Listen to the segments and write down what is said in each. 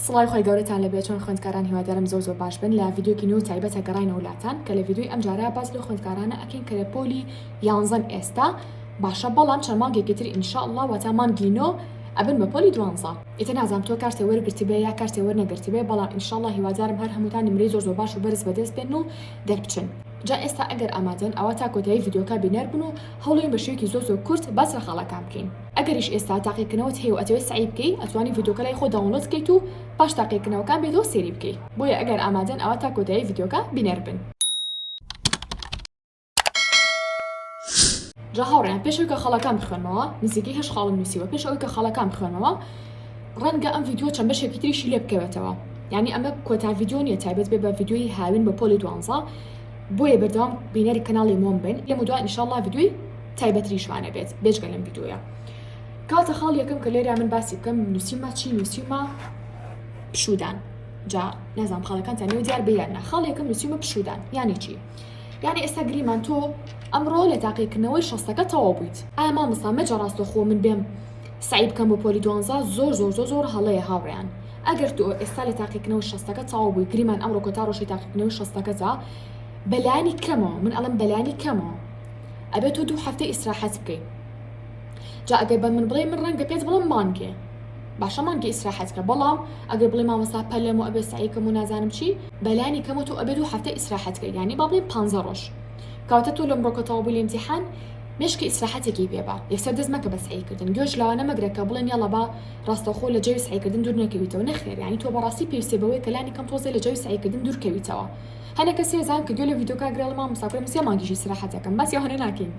سڵاوی خوای گەورەتان لەبێت چۆن خوێندکاران هیوادارم زۆر زۆر باش بن لە ڤیدیۆکی نوێ و تایبەتە گەڕاینەوە لاتان کە لە ڤیدیۆی ئەمجارە باس لەو خوێندکارانە ئەکەین کە لە پۆلی یانزەن ئێستا باشە بەڵام چەند مانگێکی تر ئینشاءاللە واتا مانگی نۆ ئەبن بە پۆلی دوانزە ئیتر نازانم تۆ کارتێ وەرگرتبێ یا کارتێ وەرنەگرتبێ بەڵام ئینشاءاللە هیوادارم هەر هەمووتان نمرەی زۆر زۆر باش و بەرز بەدەست بێن و دەربچن جا ئێستا ئەگەر ئامادەن ئەوە تا کۆتایی ڤیدیۆکە بینەر بن و هەوڵێن بە شێوەیەکی زۆر زۆر کورت باس لە خاڵەکان بکەین ئەگەریش ئێستا تاقیکردنەوەت هەیە و ئەتەوێت سەعی بکەی ئەتوانی ڤیدیۆکە لای خۆت داونلۆد بکەیت و پاش تاقیکردنەوەکان بێتەوە سێری بکەی بۆیە ئەگەر ئامادەن ئەوا تا کۆتایی ڤیدیۆکە بینەر بن. جا هاوڕێیان پێش ئەوی کە خاڵەکان بخوێنمەوە نزیکەی هەشت خاڵم نووسیوە پێش ئەوی کە خاڵەکان بخوێنمەوە ڕەنگە ئەم ڤیدیۆ چەند بەشێکی تریشی لێ بکەوێتەوە یانی ئەمە کۆتا ڤیدیۆ نیە تایبەت بێ بە ڤیدیۆی هاوین بە پۆلی دوانزە بۆیە بەردەوام بینەری کەناڵی مۆم بن لێم دوای ئینشاڵڵا ڤیدیۆی تایبەتریشمان نەبێت بێجگە لەم ڤیدیۆیە کاتە خاڵ یەکەم کە لێرە من باسی بکەم نووسیمە چی نووسیمە پشودان جا نازانام خاڵەکانتان نێو دیار بیان نە خاڵ یەکەم نووسیمە پشودان یانی چی یانی ئێستا گریمان تۆ ئەمڕۆ لە تاقیکردنەوەی شەستەکە تەواو بوویت ئایا مامۆستا مەجە ڕاستەخۆ من بێم سعی بکەم بۆ پۆلی دوانزە زۆر زۆر زۆر زۆر هەڵەیە هاوڕیان ئەگەر تۆ ئێستا لە تاقیکردنەوە شەستەکە تەواو بووی گریمان ئەمڕۆ کۆتا ڕۆژی تاقیکردنەوەی شەستەکەدا بەلانی کەمەوە من ئەڵم بەلانی کەمەوە ئەبێت تۆ دوو هەفتە ئیسراحەت بکەیت جا ئەگەر بە من بڵێ من ڕەنگە پێت بڵم مانگێ باشە مانگی ئیسراحەت کە بەڵام ئەگەر بڵێ مامەسا پەلم و ئەبێ سعیکەم و نازانم چی بەلانی کەمە تۆ ئەبێت و هەفتە ئیسراحەت کە ینی با بڵێن پ ڕۆژ کاوتە تۆ لە مرۆکەتەوە بوو لەمتیحان مشکی ئیسراحەتێکی پێبا یەسەر دەست مەکە بە سعیکردن گوێش لەوانە مەگرە کە بڵێن یاڵە با ڕاستەخۆ لە جەوی سعیکردن دوور نەکەویتەوە نەخێریانی تۆ بەڕاستی پێویستێ بەوەی کەلانی کەم تۆزێ لە جەوی سعیکردن دوورکەویتەوە هەنێ کەس هێزان کە گوێ لە ڤیدۆ کاک گرێ ڵە مامۆستا کورە من سێ مانگی ژی سراحەت ئەکەم باسی ئەوانە ناکەین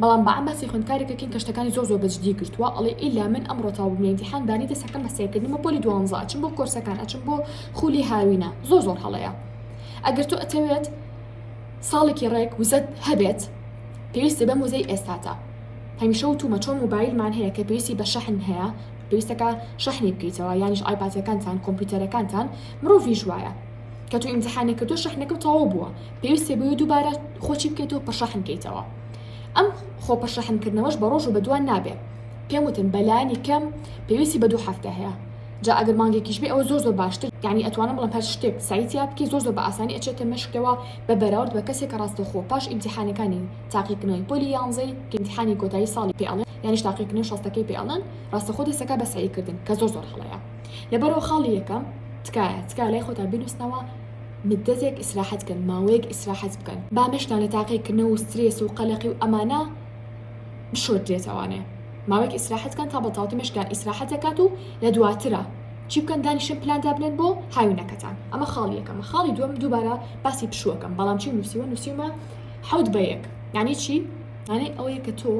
بەڵام بەعام باسی خوێندکارێک ئەکەین کە شتەکانی زۆر زۆر بەجدی گرتوە ئەڵێ ئیلا من ئەمڕۆ تەواو بووم لە ئینتیحان بانی دەست ئەکەم بە سەیر کردنمە پۆلی دوانزە ئەچم بۆ کۆرسەکان ئەچم بۆ خولی هاوینە زۆر زۆر هەڵەیە ئەگەر تۆ ئەتەوێت ساڵێکی ڕێک وزەت هەبێت پێویستە بەم وزەی ئێستاتا هەمیشە و تومە چۆن موبایلمان هەیە کە پێویستی بە شەحن هەیە پێویستەکە شەحنی بکەیتەوە یانیش ئایپاتەکانتان کۆمپیوتەرەکانتان مرۆڤیش وایە کە تو ئیمتحانی کردو شەحنەکە تەواو بووە پێویستە بۆی دووبارە خۆچی بکەیتەوە پڕشەحن کەیتەوە ئەم خۆ پڕشەحنکردنەوەش بە ڕۆژ و بەدوان نابێت پێم وتن بەلانی کەم پێویستی بە دوو هەفتە هەیە جا ئەگەر مانگێکیش بێ ئەو زۆر زۆر باشتر یعنی ئەتوانم بڵم هەر شتێک سایتیا بکە زۆر زۆر بە ئاسانی ئەچێتە مەشکەوە بە بەراورد بە کەسێک کە ڕاستەخۆ پاش ئیمتحانەکانی تاقیکردنەوەی پۆلی یانزەی ئیمتحانی کۆتایی ساڵی پێڵێن یانیش تاقیکردنەوەی شەستەکەی پێڵێن ڕاستەخۆ دەسەکە بە سەعیکردن کە زۆر زۆر هەڵەیە لەبەرەوە خاڵی یەکەم تکایە تکایە لای خۆتان بینوستنەوە مدەتێک ئیسراحەت کەن ماوەیەک ئیسراحەت بکەن با مەشتان لە تاقیکردنەوە و سترێس و قەلەقی و ئەمانە بشۆردرێتەوانێ ماوەیەک ئیسراحەت کەن تا بەتاوتی مەشتان ئیسراحەت دەکات و لە دواترە چی بکەن دانیشن پلان دابنێن بۆ هاوینەکەتان ئەمە خاڵی یەکەمە خاڵی دووەم دووبارە باسی پشووەکەم بەڵام چی نووسیوە نووسیمە حەوت بە یەک یعنی چی یعنی ئەوەیە کە تۆ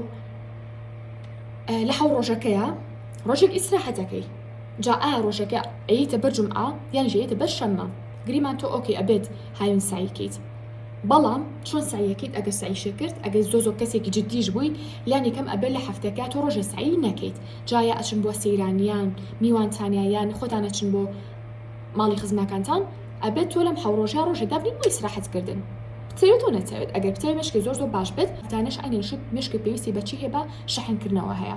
لە حەو ڕۆژەکەیە ڕۆژێک ئیسراحەتەکەی جا ئایا ڕۆژەکە ئەیتە بەر جومعە یان ژێیتە بەر شەممە گریمان تۆ ئۆکەی ئەبێت هاوین سعی کەیت بەڵام چۆن سعیەکەیت ئەگەر سعیشە کرد ئەگەر زۆ زۆ کەسێکی جدیش بووی لانی کەم ئەبێت لە هەفتەکە تۆ ڕۆژێ سعی نەکەیت جایا ئەچن بۆ سەیرانیان میوانتانیا یان خۆتان ئەچن بۆ ماڵی خزمەکانتان ئەبێت تۆ لەم حەو ڕۆژە ڕۆژێ دابنی بۆ ئیسراحەت کردن بتەوێت و نەتەوێت ئەگەر بتەوێت مشکی زۆر زۆر باش بێت تانەش ئەنێشت مشکی پێویستی بەچی هەیە بە شەحنکردنەوە هەیە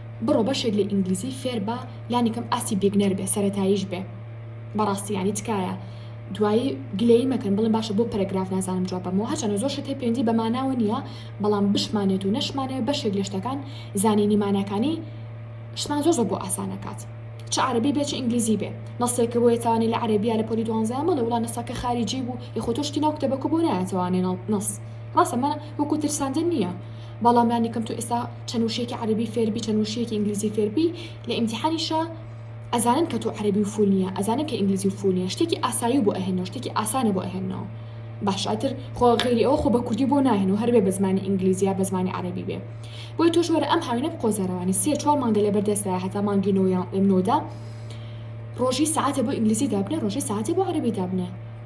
بڕۆ بەشێک لە ئینگلیزی فێربە لانیکەم ئاستی بیگنەر بێ سەرەتاییش بێ بەڕاستی یانی تکایە دوایی گلەیی مەکەن بڵێن باشە بۆ پەرەگراف نازانم جواب بەمەوە هەچەنە زۆر شت هەیە پێوەندی بە ماناوە نییە بەڵام بشمانێت و نەشمانەوە بەشێک لە شتەکان زانینی ماناکانی شتمان زۆر زۆر بۆ ئاسانەکات چ عربی بێ چ ئینگلیزی بێ نەسێکە بۆیە توانێت لە عربیە لە پۆلی دوانزیان بڵێ وڵا نەسەکە خارجی بوو یخۆ تۆشتی ناو کتێبەکە بۆ نایەتەوانێ نەڵ نەس ڕاستە من وەکو ترساندن نییە بەڵام لانیکەم تۆ ئێستا چەند وشەیەکی عەرەبی فێربی چەند وشەیەکی ئینگلیزی فێربی لە ئیمتیحانیشە ئەزانن کە تۆ عەرەبی و فول نیە ئەزانن کە ئینگلیزی و فول نیە شتێکی ئاسایی بۆ ئەهێنەوە شتێکی ئاسانە بۆ ئەهێنەوە باش ئەتر خۆ غیری ئەو خۆ بە کوردی بۆ ناهێن و هەربێ بە زمانی ئینگلیزیە بە زمانی عەرەبی بێ بۆی تۆش وەرە ئەم هاوینە قۆزەرەوانی سێ چوار مانگە لە بەردەستدا هەتا مانگی نۆیان نۆدا ڕۆژی ساعتە بۆ ئینگلیزی دابنێ ڕۆژی ساعتە بۆ عەرەبی دابنێ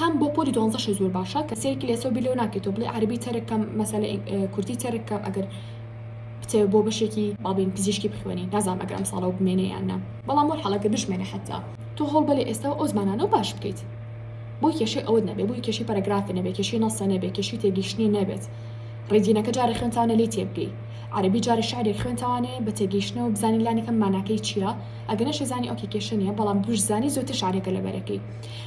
هەم بۆ پۆلی دوانزە شی زۆر باشە کە سەیرکی لەسەو بی لەو ناکەیتەوە بڵێ عەرەبی تەرک کەم مەسەلە ئینگ- اه، کوردی تەرک کەم ئەگەر بتەوێ بۆ بەشێکی با بڵێین پزیشکی بخوێنی نازانم ئەگەر ئەمساڵەوە بمێنێ یان نا بەڵام وەلحاڵ ئەگەر بشمێنێ حەتتا تۆ هەوڵ بە لە ئێستەوە ئەو زمانانە و باش بکەیت بۆی کێشەی ئەوەت نەبێ بۆی کێشەی پەرەگرافی نەبێ کێشەی نەسە نەبێ کێشەی تێگەیشتنی نەبێت ڕێدینەکە جارێ خوێنتانە لێی تێبگەی عەرەبی جارێ شعرێک خوێنتوانێ بە تێگەیشتنەوە بزانی لانیکەم ماناکەی چییە ئەگەر نەشێزانی ئۆکێ کێشە نییە بەڵام بشزانی زۆرتر شعرەکە لەبەرەکەی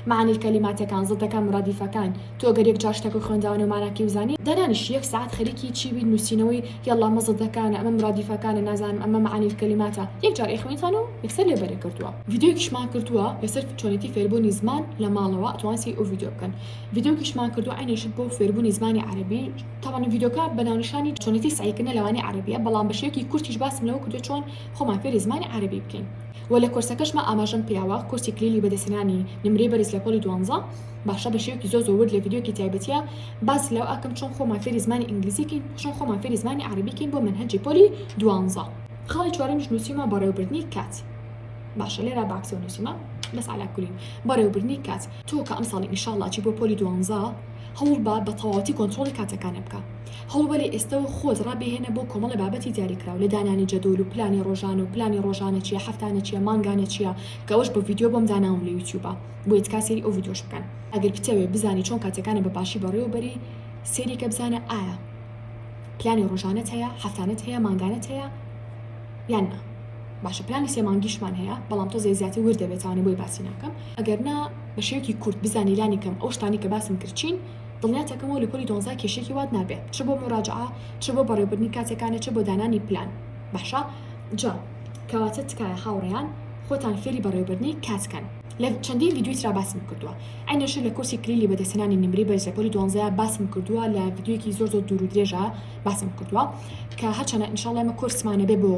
مەعانی کەلیماتەکان، زدەکان، مرادیفەکان، تۆ گەر یەک جار شتەکە خوێنداوە نێو ماناکەی و زانی، دانانیشی یەک سەعات خەریکی چی بیت نووسینەوەی یەڵڵا ئەمە زدەکانە ئەمە مرادیفەکانە نازانم ئەمە مەعانی کەلیماتە یەک جار ئەیخوێنیتان و یەکسەر لێ بەرێ کردووە. ڤیدیۆیەکیشمان کردووە لەسەر چۆنێتی فێربوونی زمان لە ماڵەوە ئەتوان سەیری ئەو ڤیدیۆ بکەن. ڤیدیۆکیشمان کردووە عەینەن شت بۆ فێربوونی زمانی عەرەبی تابانە ڤیدیۆکە بە ناونیشانی چۆنێتی سەعیکردنە لە وانەی عەرەبییە بەڵام بە شێوەکی کورتیش باسم لەوە کردووە چۆن خۆمان فێری زمانی عەرەبی بکەین. وە لە کۆرسەکەشما ئاماژەم پیاوە کۆرسی کلیلی بەدەستهێنانی نمرەی بەرز لە پۆلی دوانزە باشە بە شێوەکی زۆر زۆر ورد لە ڤیدیۆکی تایبەتیە باس لەو ئەکەم چۆن خۆمان فێری زمانی ئینگلیزی کەین چۆن خۆمان فێری زمانی عەرەبی کەین بۆ مەنهەجی پۆلی دوانزە خاڵی چوارەمیش نوسیومە بەڕێوەبردنی کات باشە لێرا باکسەوە نوسیمە بەس عەلا کولین بەڕێوەبردنی کات تۆ کە ئەمساڵی ئینشاڵڵا چی بۆ پۆلی دوانزە هەوڵ بە بە تەواوەتی کۆنترۆڵی کاتەکانت بکە هەوڵبەرە ئێستەوە خۆت ڕابێهێنە بۆ کۆمەڵە بابەتی دیاریکراو لە دانانی جەدۆل و پلانی ڕۆژانە و پلانی ڕۆژانە چیە هەفتانە چیە مانگانە چیە کە ئەوەش بە ڤیدیۆ بۆم داناوم لە یوتیوبا بۆیە تکا سەیری ئەو ڤیدیۆش بکەن ئەگەر بتەوێ بزانی چۆن کاتەکانە بە باشی بەڕێوە بەری سەیری کە بزانە ئایا پلانی ڕۆژانەت هەیە هەفتانەت هەیە مانگانەت هەیە یان نا باشە پلانی سێ مانگیشمان هەیە بەڵام تۆ زێ زیاتر ورد دەبێتانە بۆی باسی ناکەم ئەگەر نا بە شێوەیەکی کورت بزانی لانی کەم ئەو شتانی کە باسم کرد چین دڵنیاتەکەمەوە لە پۆلی دوانزا کێشەیەکی وات نابێ چ بۆ موراجەعە چ بۆ بەڕێوەبردنی کاتەکانە چ بۆ دانانی پلان باشە جا کەواتە تکایە هاوڕێیان خۆتان فێری بەڕێوەبردنی کات کەن لە چەندین ڤیدیۆی ترا باسم کردووە عەینەشر لە کۆرسی کلیلی بەدەستهێنانی نمرەی بەرز لە پۆلی دوانزەیا باسم کردووە لە ڤیدیۆیەکی زۆر زۆر دوور و درێژا باسم کردووە کە هەرچەنە ئینشاڵڵا ئێمە کۆرسمان نەبێ بۆ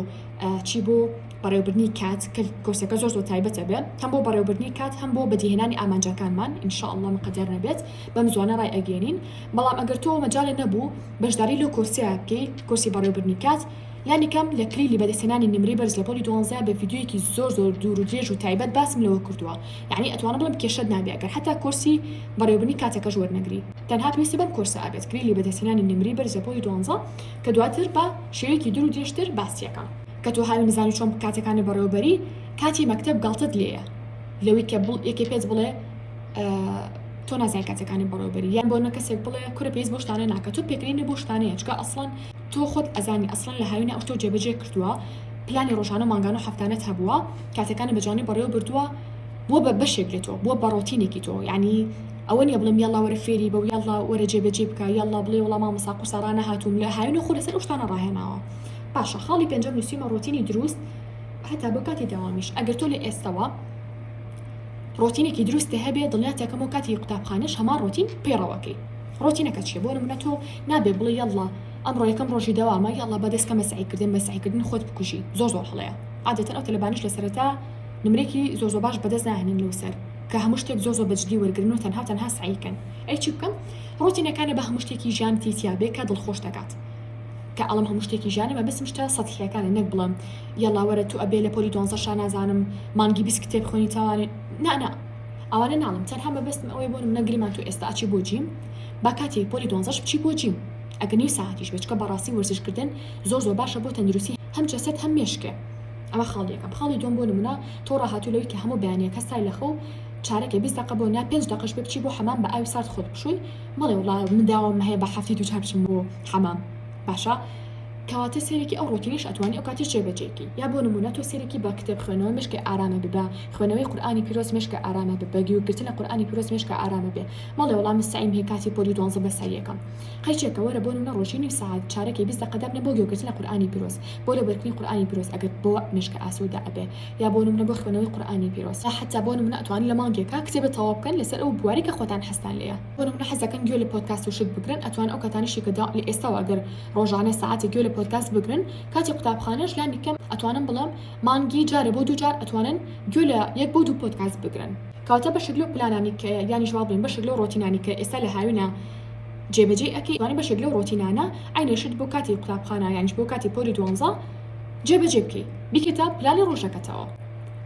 چی بۆ بەڕێوبردنی کات کە کۆرسەکە زۆر زۆر تایبەتە بێ هەم بۆ بەڕێوبردنی کات هەم بۆ بەدیهێنانی ئامانجەکانمان ئینشاءاللە مقەدەر نەبێت بەم زوانە ڕای ئەگەێنین بەڵام ئەگەر تۆ مەجاالێ نەبوو بەشداری لەو کۆرسیا بکەی کۆرسی بەڕێوبردنی کات لانیکەم لە کلیلی بەدەستێنانی نمری بەرز لە پۆلی دوانزە بە ڤیددیویەکی زۆر زۆر دوور و درێژ و تایبەت باسم لەوە کردووە یعنی ئەتوانم بڵم کێشت نابێ ئەگەر حتا کۆرسی بەڕێوبنی کاتەکەش وەرنەگری تەنها پێویستە بەم کۆرسە ئابێت کلیلی بەدەستێنانی نمری بەرز لە پۆلی دوانزە کە دواتر بە شێوەیەکی دوور و درێژتر باسیەکەم کە تۆ هاوین بزانی چۆن کاتەکانت بەڕێوەبەری کاتی مەکتەب گەڵتەت لێیە لەوی کە بڵ یەکێ پێت بڵێ تۆ نازای کاتەکانی بەڕێوەبەری یان بۆ نە کەسێک بڵێ کورە پێیس بۆ شتانە ناکە تۆ پێکرینە بۆ شتانەیە چکە ئەسڵەن تۆ خۆت ئەزانی ئەسڵەن لە هاوینە ئەو تۆ جێبەجێ کردووە پلانی ڕۆژانە مانگان و هەفتانت هەبووە کاتەکانی بەجوانی بەڕێوە بردووە بۆ بە بەشێک لە تۆ بۆ بەڕۆتینێکی تۆ ینی ئەوە نیە بڵم یاڵا وەرە فێری بە یاڵا وەرە جێبەجێ بکە یاڵا بڵێ وڵام مەساقوسە ڕانەهاتووم لە هاوینە خۆ لەسەر شتانە ڕاهێناوە باشە خاڵی پێنجەم نووسیمە ڕۆتینی دروست هەتا بۆ کاتی داوامیش ئەگەر تۆ لە ئێستەوە ڕۆتینێکی دروستە هەبێ دڵنیاتەکەم و کاتی قوتابخانەش هەمان ڕۆتین پێڕەوەکەی ڕۆتینەکە چیە بۆ منە تۆ نابێ بڵێ یاڵە ئەم ڕۆیەکەم ڕۆژی داوامە یاڵە بە دەستکە مەسعیکردن مەسعیکردن خۆت بکوژی زۆر زۆر هەڵەیە عادەتەن ئەو تەلبانیش لە سەرەتا نمرێکی زۆر زۆر باش بەدەست ناهێنن لەو سەر کە هەموو شتێک زۆر زۆر بەجددی وەرگن و تەنها تەنها سعیکەن ئەی چی بکەم ڕۆتینەکانە بە هەموو شتێکی ژیانتی تیاابێ کە دڵخۆش دەکات کە ئەڵێم هەموو شتێکی ژیانە مەبەستم شتە سەتحیەکانە نەک بڵێم یەڵا وەرە تو ئەبێ لە پۆلی دۆنزە شا نازانم مانگی بیست کتێب خوێنی تاوانێ نا نا ئەوانە ناڵم تەنها مەبەستم ئەوەی بۆ منە گریمان تو ئێستا ئەچی بۆ جیم با کاتی پۆلی دۆنزەش بچی بۆ جیم ئەگە نیو ساعتیش بێت چکە بەڕاستی وەرزشکردن زۆر زۆر باشە بۆ تەندروستی هەم جەسەت هەم مێشکێ ئەمە خاڵی یەکەم خاڵی دوم بۆ نمونە تۆ ڕاهاتوو لەوی کە هەموو بەیانیەکە سای لەخەو چارەکێ بیست دەقە بۆ نا پێنج دەقەش بێ بچی بۆ حەمام بە ئاوی سارد خۆت بشۆی بەڵێ وەڵا من داوام هەیە بە هەفتی دووجار بچم بۆ حەمام باشە کەواتە سێرێکی ئەو ڕۆتینیش ئەتوانی ئەو کاتیش جێبەجێکی یا بۆ نمونە تۆ سێرێکی بە کتێب خوێنەوە مشکی ئارامە ببە خوێنەوەی قورآانی پیرۆز مشکە ئارامە بە بەگی و گرتنە قورآانی پیرۆز مشکە ئارامە بێ مەڵێ وەڵام مستعیم هەیە کاتی پۆلی دوانزە بە ساییەکەم قەیچێکە وەرە بۆ نمونە ڕۆژی نیم ساعت چارەکی بیست دەقە دابنە بۆ گوێگرتنە قورآانی پیرۆز بۆ لەبەرکردنی قورآانی پیرۆز ئەگەر بۆ مشکە ئاسوودە ئەبێ یا بۆ نمونە بۆ خوێنەوەی قورئانی پیرۆز یا حەتا بۆ نمونە ئەتوانن لە مانگێکا کتێبێ تەواو بکەن لەسەر ئەو بوارەی کە خۆتان حەزتان لێیە بۆ نمونە حەز دەکەن گوێ لە پۆدکاست و شت بگرن ئەتوانن ئەو کاتانەشی کە لە ئێستاوە گەر ڕۆژانە سەعاتێک گوێ لە پۆدکاست بگرن کاتی قوتابخانەش لانی کەم ئەتوانن بڵێم مانگی جارێ بۆ دوو جار ئەتوانن گوێ لە یەک بۆ دوو پۆدکاست بگرن کەواتە بەشێک لەو پلانانی کە یانیش وا بڵێم بەشێک لەو ڕۆتینانی کە ئێستا لە هاوینە جێبەجێی ئەکەی وانە بەشێک لەو ڕۆتینانە عینەشت بۆ کاتی قوتابخانە یانیش بۆ کاتی پۆلی دوانزە جێ بەجێ بکەی بیکەتە پلانی ڕۆژەکەتەوە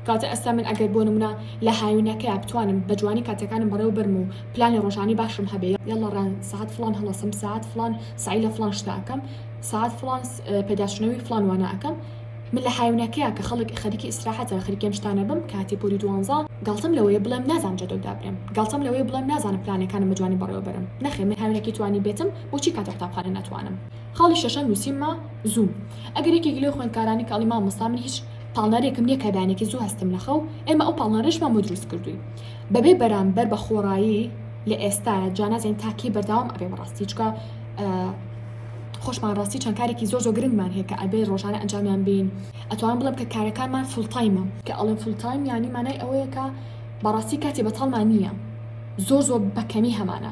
کەواتە ئەستا من ئەگەر بۆ نمونە لە هاوینەکەیا بتوانم بە جوانی کاتەکانم بەڕێوە بەرم و پلانی ڕۆژانی باشم هەبێ یاڵا ڕان سەعات فڵان هەڵەسم ساعت فڵان سعی لە فڵان شتاکەم ساعت فڵان پێداشتنەوەی فڵان وانەکەم من لە هاوینەکەیا کە خەڵک خەریکی ئیسراحەتە خەریکێم شتانە بم کاتی پۆری دوانزە گاڵتەم لەوەیە بڵێم نازانم جەدۆ دابرێم گاڵتەم لەوەیە بڵێم نازانم پلانەکانم بە جوانی بەڕێوە بەرم نەخێ من هاوینەکی توانی بێتم بۆچی کاتە قوتابخانە ناتوانم خاڵی شەشەم نوسیممە زوو ئەگەر یەکێک لەو خوێندکارانی کاڵی مامۆستا من هیچ پاڵنەرێکم نییە کە دانێکی زوو هەستم لە خەو ئێمە ئەو پاڵنەرێشمان بۆ دروست کردووی بەبێ بەرامبەر بە خۆڕایی لە ئێستا جانازین تاکی بەرداوام ئەبێ بەڕاستی چکە خۆشمان ڕاستی چەند کارێکی زۆر زۆ گرنگمان هەیە کە ئەبێ ڕۆژانە ئەنجامیان بین ئەتوان بڵم کە کارەکانمان فلتایمە کە ئەڵم فلتایم ینی مانای ئەوەیە کە بەڕاستی کاتی بەتاڵمان نییە زۆر زۆر بەکەمی هەمانە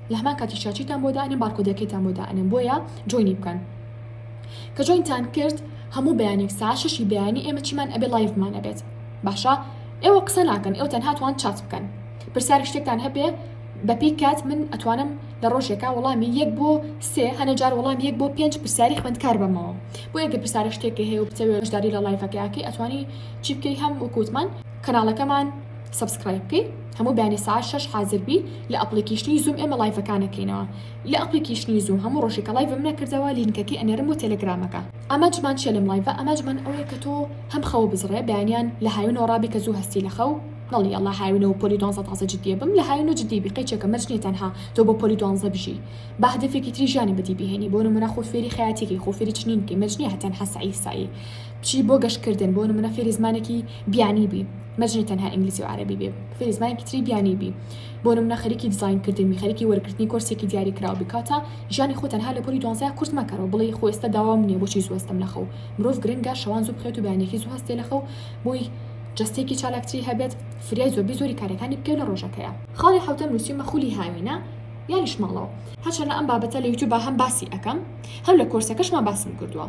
لە هەمان کاتیشدا چیتان بۆ دائەنێم بارکۆدەکەیتان بۆ دائەنێم بۆیە جۆینی بکەن کە جۆینتان کرد هەموو بەیانێک سا شەشی بەیانی ئێمە چیمان ئەبێ لایڤمان ئەبێت باشە ئێوە قسە ناکەن ئێوە تەنها توان چات بکەن پرسیار شتێکتان هەبێ بەپی کات من ئەتوانم لە ڕۆژێکا وەڵامی یەک بۆ سێ هەنە جار وەڵام یەک بۆ پێنج پرسیاری خوێندکار بەمەوە بۆ یەکە پرسیارە شتێکی هەیە و بچەوێ بەشداری لە لایفەکەیاکەی ئەتوانی چی بکەی هەم وکوتمان کەناڵەکەمان سەبسکرایب بکەی هەموو بەیانی سەعات شەش حازر بی لە ئەپڵیکیشنی زووم ئێمە ڵایڤەکان ئەکەینەوە لە ئەپڵیکیشنی زووم هەموو ڕۆژێکە ڵایڤم نەکردەوە لینکەکەی ئەنێرم بۆ تێلێگرامەکە. ئامانجمان چیە لەم ڵایڤە ئامانجمان ئەوەیە کە تۆ هەم خەوە بزڕێ بەیانیان لە هاوینەوە ڕابی کە زوو هەستی لە خەو نەڵی یەڵا هاوینە و پۆلی دوانزە تازە جدیە بم لە هاوینە جدی بی قەیچێکە مەرج نیە تەنها تۆ بۆ پۆلی دوانزە بژی با هەدەفێکی تری ژیانی بەدی بهێنی بۆ نمونە خۆ فێری خەیاتیکی خۆ فێری چنین بکی مەرج نیە هە تەنها سەعی سەعی بچی بۆ گەشتکردن بۆ نمونە فێری زمانێکی بیانی بی مەجنی تەنها ئینگلیزی و عەرەبی بێ فێری زمانێکی تری بیانی بی بۆ نمونە خەریکی دیزاین کردنی خەریکی وەرگرتنی کۆرسێکی دیاری کراو بی کاتە ژیانی خۆ تەنها لە پۆلی دوانزە کورت مەکەرەوە بڵێی خۆ ئێستا داوام نییە بۆچی زوو هەستم لە خەو مرۆڤ گرنگە شەوان زوو بخوێت و بەیانیەکی زوو هەستێ لە خەو بۆی جەستەیەکی چالاکتری هەبێت فریای زۆربەی زۆری کارەکانی بکەی لە ڕۆژەکەیە خاڵی حەوتەم نووسیومە خولی هاوینە یانیش ماڵەوە هەرچەندە ئەم بابەتە لە یوتیوبا هەم باسی ئەکەم هەم لە کۆرسەکەشما باسم کردووە.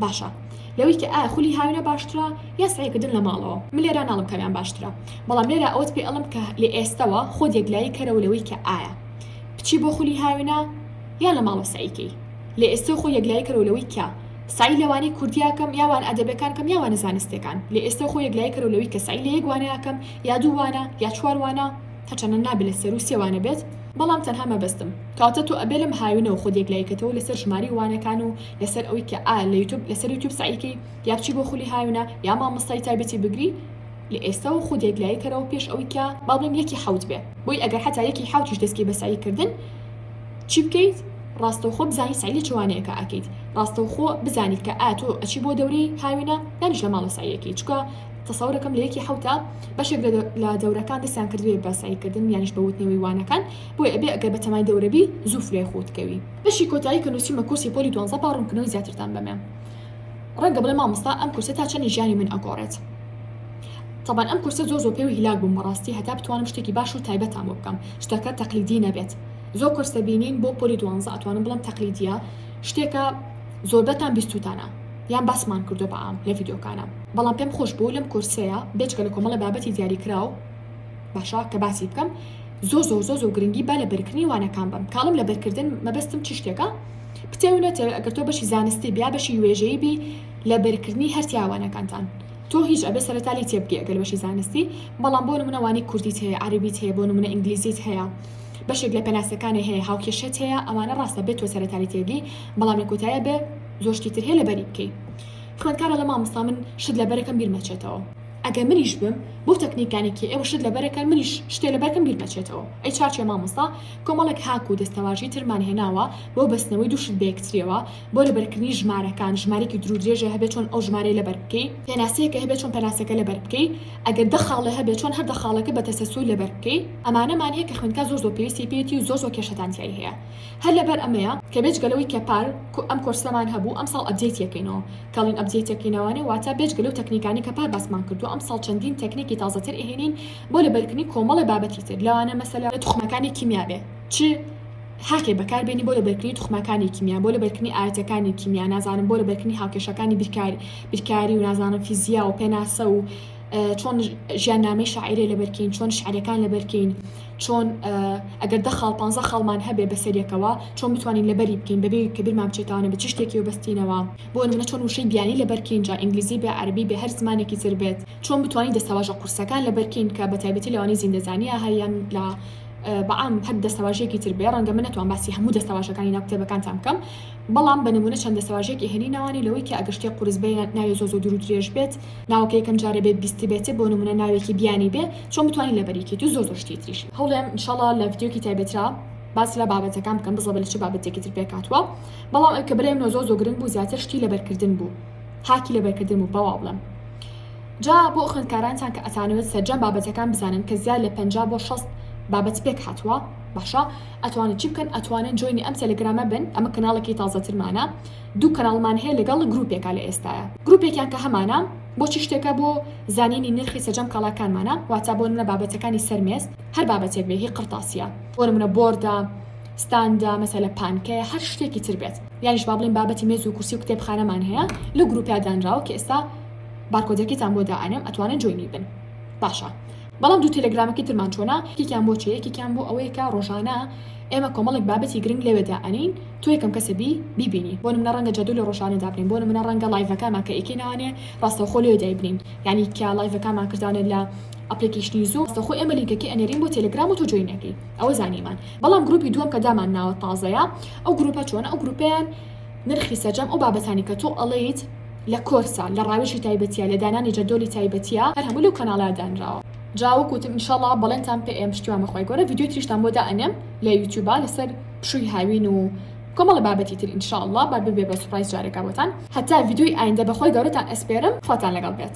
باشە لەوەی کە ئایا خولی هاوینە باشترە یا سعیکردن لە ماڵەوە من لێرا ناڵم کامیان باشترە بەڵام لێرا ئەوت پێ ئەڵم کە لە ئێستەوە خۆ یەکلایی کەرەوە لەوەی کە ئایا بچی بۆ خولی هاوینە یا لە ماڵە سعیکەی لە ئێستا خۆ یەکلایی کەرەوە لەوەی کە سعی لەوانی کوردیاکەم یاوان ئەدەبەکان کەم یاوانە زانستەکان لە ئێستا خۆ یەکلای کەرو لەوی کە سعی لە یەکوانەکەم یا دووانە یا چواروانا هەچەنە نابێت لە سەر و سێوانە بێت بەڵام تەنها مەبەستم کاتە تۆ ئەبێ لەم هاوینەوە خۆ یەکلایکەتەوە لەسەر ژماری وانەکان و لەسەر ئەوی کە ئایا لە یوتوب لەسەر یوتوب سعیکەی یا بچی بۆ خولی هاونا یا مامۆستای تایبەتی بگری لە ئێستا و خودێک لای کەرەوە پێش ئەوی کە باڵێن یەکی حوت بێ بۆی ئەگەر حتا یەکی حوتیش دەستکی بەسایی کردن چی بکەیت ڕاستەوخۆ بزانانی سعی لە چوانەیەەکە ئەکەیت ڕاستەوخۆ بزانیت کە ئاتۆ ئەچی بۆ دەورەی هاوێنە دانیش لە ماڵە سایەکی چکە تەسەورەکەم لە یەکی حوتا بەشێک لە دەورەکان دەستیان کردوێ بەساییکردن یانیش بەوتنەوەی وانەکان بۆی ئەبێ ئەگەر بەتەمای دەورەبی زوو فرێ خۆتکەوی بەشی کۆتایی کە نوسیومە کورسی پۆلی دوانزە با ڕونکردنەوەی زیاترتان بەمێ ڕەنگە بڵێ مامۆستا ئەم کورسە تا چەنی ژیانی من ئەگۆڕێت طبعا ئەم کورسە زۆر زۆر پێ و هیلاک بووم بەڕاستی هەتا بتوانم شتێکی باش و تایبەتان بۆ بکەم شتەکە تەقلیدی نەبێت زۆر کورس دەبینین بۆ پۆلی دوانزە ئەتوانم بڵم تەقلیدیە شتێکە زۆربەتان بیستوتانە یان باسمان کردو بەعام لە ڤیدۆکانە بەڵام پێم خۆش بوو لەم کورسەیە بێچکە لە کۆمەڵە بابەتی دیاری کراو باشە کە باسی بکەم زۆ زۆ زۆ زۆ گرنگی با لە بەرکردنی وانەکان بم کاڵم لە بەرکردن مەبەستم چ شتێکە پتێونەتە ئەگەر تۆ بەشی زانستی بیا بەشی وێژەی بی لە بەرکردنی هەرتیاوانەکانتان تۆ هیچ ئەبێ سەرتالی تێبگەی ئەگەر بەشی زانستی بەڵام بۆ منەوانی کوردیت هەیە عربیت هەیە بۆ منە ئینگلیزیت هەیە بەشێک لە پەناسەکانی هەیە هاوکێشێت هەیە ئەوانە ڕاستە بێت تۆ سەرتالی تێگەی بەڵام لە کۆتایە بێ زۆشتی تر هەیە لە بەری بکەیت خوێندکارە لە مامۆستا من شت لە بەرەکەم بیرمەچێتەوە ئەگەر منیش بم بۆ تەکنیکانی کێ ئێوە شت لەبەرەکەن منیش شتێ لەبەرکەم بیر نەچێتەوە ئەی چاچێ مامۆستا کۆمەڵێک هاک و دەستەواژەی ترمان هێناوە بۆ بەستنەوەی دوو شت بەیەکتریەوە بۆ لەبەرکردنی ژمارەکان ژمارەیەکی دروو درێژە هەبێ چۆن ئەو ژمارەیە لەبەر بکەی پێناسەیەکە هەبێ چۆن پێناسەکە لەبەر بکەی ئەگەر دە خاڵێ هەبێ چۆن هەر دە خاڵەکە بە تەسەسول لەبەر بکەی ئەمانەمان هەیە کە خوێندکار زۆر زۆر پێویستی پێیەتی و زۆر زۆر کێشەتان تیای هەیە هەر لەبەر ئەمەیە کە بێجگە لەوەی کە پار ئەم کۆرسەمان هەبوو ئەمساڵ ئەپدەیتی ئەکەینەوە کەڵین ئەپدەیتی ئەکەینەوانێ واتە بێجگە لەو تەکنیکانەی کە پار باسمان کردووە ئەمساڵ چەندین تەکنیکی تازەتر ئەهێنین بۆ لەبەرکردنی کۆمەڵێ بابەتی تر لەوانە مەسەلەن توخمەکانی کیمیا بێ چ هاکێ بەکار بێنی بۆ لەبەرکردنی توخمەکانی کیمیا بۆ لەبەرکردنی ئایەتەکانی کیمیا نازانم بۆ لەبەرکردنی هاوکێشەکانی بیرکاری بیرکاری و نازانم فیزیا و پێناسە و چۆن ژیان نامی شاعرێ لەبەرکەین چۆن شعرەکان لەبەرکەین چۆن ئەگەر دە خاڵ پ خاڵمان هەبێ بەسەرەکەەوە چۆن بتوانین لەبەری بکەین بەبێ کە بیرمان بچێتانە بە چ شتێکی و بەستینەوە بۆ منە چۆن وشەی بیانی لەبەرکەین جا ئینگلیزی بێ عربی بێ هەر زمانێکی تر بێت چۆن بتوانین دەستەواژە قورسەکان لەبەرکەین کە بە تایبەتی لەوانی زیندەزانیا هەیەیان لە بەعام هەر دەستەواژێکی تر بێ ڕەنگە من نتوان باسی هەموو دەستەواژەکانی ناو کتێبەکانتان بکەم بەڵام بە نمونە چەند دەستەواژێکی هێنی ناوانی لەوەی کە ئەگەشتێ قورس بێ ناوێ زۆ زۆ دوور درێژ بێت ناوەکە یەکەم جارە بێت بیستی بێتێ بۆ نمونە ناوێکی بیانی بێ چۆن بتوانین لەبەری کەیت و زۆر زۆر شتی تریش هەوڵێم ان شاء اللە لە ڤیدیۆکی تایبەترا باس لە بابەتەکان بکەم بزڵە بە لە چ بابەتێکی تر پێکاتوە بەڵام ئەو کە برای منەوە زۆر زۆر گرنگ بوو زیاتر شتی لەبەرکردن بوو هاکی لەبەرکردن بوو بەوا بڵێم جا بۆ خوێندکارانتان کە ئەتانەوێت سەرجەم بابەتەکان بزانن کە زیاد لە 50 بۆ 6 بابەت پێک هاتووە باشە ئەتوانن چی بکەن ئەتوانن جۆینی ئەم تەلەگرامە بن ئەمە کەناڵێکی تازەترمانە دوو کەناڵمان هەیە لەگەڵ گروپێکا لە ئێستایا گروپێکیان کە هەمانە بۆچی شتێکە بۆ زانینی نرخی سەجەم کاڵاکانمانە واتا بۆ نمونە بابەتەکانی سەر مێز هەر بابەتێک بێ هی قڕتاسیە بۆ نمونە بۆردە ستاندە مەسەلە پانکەیە هەر شتێکی تر بێت یانیش با بڵین بابەتی مێز و کورسی و کتێبخانەمان هەیە لە گروپیا دانراوە کە ئێستا بارکۆدەکەیتان بۆ دائەنێم ئەتوانن جۆینی بن باشە بەڵام دوو تێلێگرامەکەی ترمان چۆنە؟ یەکێکیان بۆ چیە؟ یەکێکیان بۆ ئەوەیە کە ڕۆژانە ئێمە کۆمەڵێک بابەتی گرنگ لەوێ دائەنێین، تۆ یەکەم کەسە بی بیبینی، بۆ نمونە ڕەنگە جەدولی ڕۆژانە دابنێین، بۆ نمونە ڕەنگە ڵایڤەکانمان کە ئیکەین ئەوانێ ڕاستەوخۆ لەوێ دایبنێین، یانی کە ڵایڤەکانمان کردانە لە ئەپڵیکەیشنی زووم ڕاستەوخۆ ئێمە لینکەکەی ئەنێرین بۆ تێلێگرام و تۆ جۆین ئەکەی ئەوە زانیمان، بەڵام گروپی دووەم کە دامان ناوە تازەیە ئەو گروپە چۆنە؟ ئەو گروپەیان نرخی سەرجەم ئەو بابەتانی کە تۆ ئەڵێیت، لە کۆرسە لە ڕاوێژی تایبەتیە لە دانانی جەدۆلی تایبەتیە هەر هەموو لەو کەناڵە دانراوە جا وەک وتم انشاللە بەڵێنتان پێ ئەیەم پشتیوان بە خوای گەورە ڤیدیۆی تریشتان بۆ دا ئەنێم لە یوتیوبا لەسەر پشووی هاوین و کۆمەڵە بابەتی تر انشاللە با ببێ بە سوپرایز جارێکا بۆتان هەتا ڤیدیۆی ئایندە بە خوای گەورەتان ئەسپێرم خواتان لەگەڵ بێت.